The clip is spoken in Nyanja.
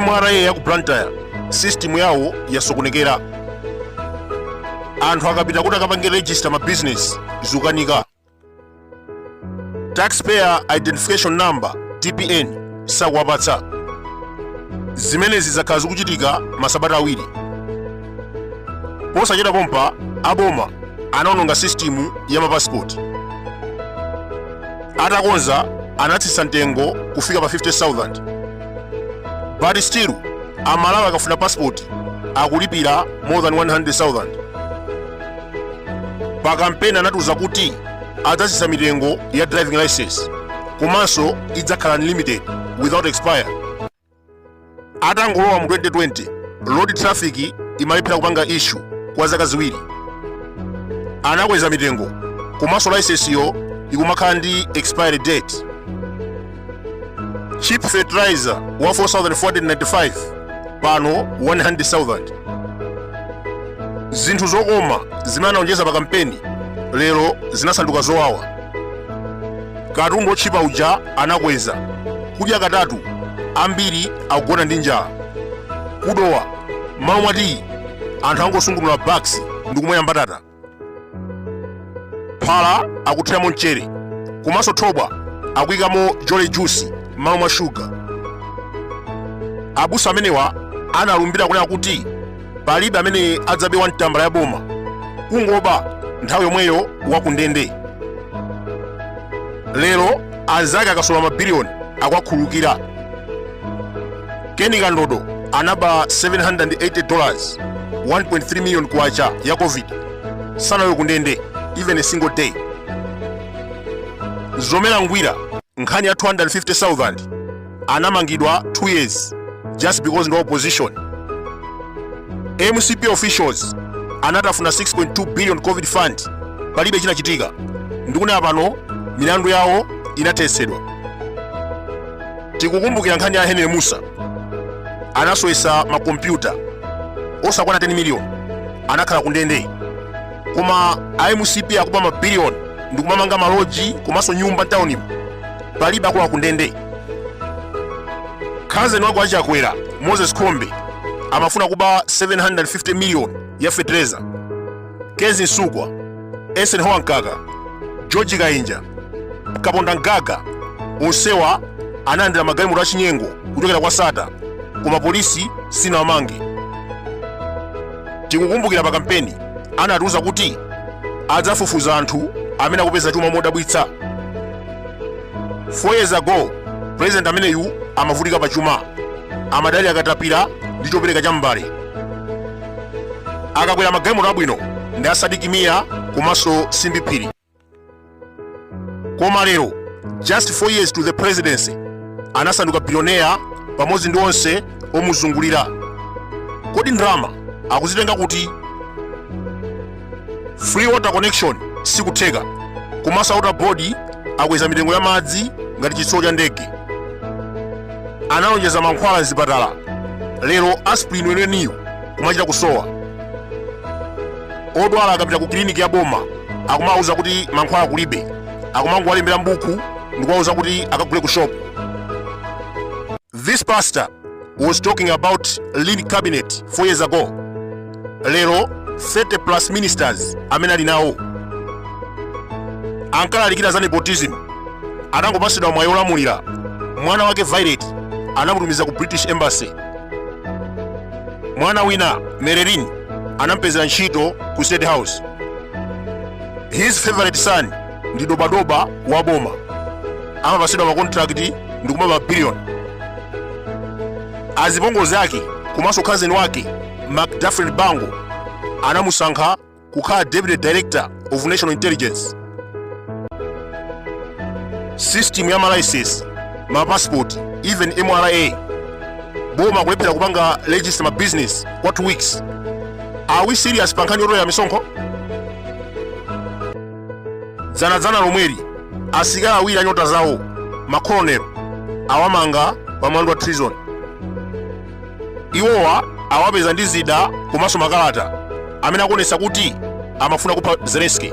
mra ya ku blantyre system yawo yasokonekera anthu akapita kuti akapange register ma business zikukanika taxpayer identification number tpin sakuwapatsa zimenezi zakhala zikuchitika masabata awiri posachita mopompa aboma anaononga sisitimu ya mapasipoti atakonza anatsitsa mtengo kufika pa 50000 but still amalawi akafuna pasipoti akulipira more than 100000 pa kampeni anatiuza kuti adzatsitsa mitengo ya driving license komanso idzakhala unlimited without expire atangolowa mu 2020 road traffic imalephera kupanga issue kwa zaka ziwiri anakweza mitengo komanso license yo ikumakhala ndi expiry date cheap fertilizer wa 4495 pano 100000 zinthu zokoma zimene analonjeza pa kampeni lero zinasanduka zowawa katundu otchipa uja anakweza kudya katatu ambiri akugona ndi njala ku dowa m'malo mwa tiyi anthu angosungunula bax's ndi kumwera mbatata phala akuthiramo mchere komanso thobwa akuyikamo jolly juice m'malo mwa shuga abusa amenewa analumbira kunena kuti palibe amene adzabe 1 tambala ya boma kungoba nthawi yomweyo wakundende lero anzake akasola mabiliyoni akuwakhululukira keni kandodo anaba 780 dollars 1.3 million kwacha ya covid sanalowe kundende even a single day mzomera ngwira nkhani ya 250000 anamangidwa 2 years just because ndi wa opposition mcp officials anatafuna 6.2 billion covid fund palibe chinachitika ndikunena pano milandu yawo inathetsedwa tikukumbukira nkhani ya henry musa anasowetsa makompyuta osakwana 10 miliyoni anakhala ku ndende koma a mcp akuba mabiliyoni ndikumamanga maloji komanso nyumba mtaunimu palibe akulowa ku ndende khazeni wawo achakwera moses kunkuyu amafuna kuba 750 miliyoni ya fetereza kezzie msukwa eisenhower mkaka george kainja kapondamgaga onsewa analandira magalimoto achinyengo kuchokera kwa sattar koma polisi sinawamange tikukumbukira pa kampeni anatiuza kuti adzafufuza anthu amene akupeza chuma modabwitsa 4 years ago president ameneyu amavutika pa chuma amadalira katapira ndi chopereka cha mbale akakwera magalimoto abwino ndi a sidik mia komanso simbi phiri koma lero just 4 years to the presidency anasanduka bilioneya pamodzi ndi onse omuzungulira kodi ndalama akuzitenga kuti free water connection sikutheka komanso water board akweza mitengo ya madzi ngati chitsulo cha ndege analonjeza mankhwala mzipatala lero aspirin weneniyo kumachita kusowa odwala akapita ku kiliniki ya boma akumawuza kuti mankhwala kulibe akumangowalembera mbuku ndikuwawuza kuti akagule ku shopu this pastor was talking about lean cabinet 4 years ago lero 30 plus ministers amene ali nawo ankalalikira za nepotism anangopasidwa mwayi olamulira mwana wake violet anamutumiza ku british embassy mwana wina marilyn anampezera ntchito ku state house his favorite son ndi dobadoba wa boma amapasidwa makontrakiti ndi kumaba mabiliyoni azipongozi ake komanso khazeni wake mcdafrin bango anamusankha kukhala deputy director of national intelligence system ya malicense mapasipoti even mra boma kulephera kupanga register mabusiness kwa 2 weeks are we serious pa nkhani yotolera misonkho dzanadzana lomweli asilikali awiri anyota zawo makolonelo, awamanga pa mlandu wa treason iwowa awapeza ndi zida komanso makalata amene akuonetsa kuti amafuna kupha zelenski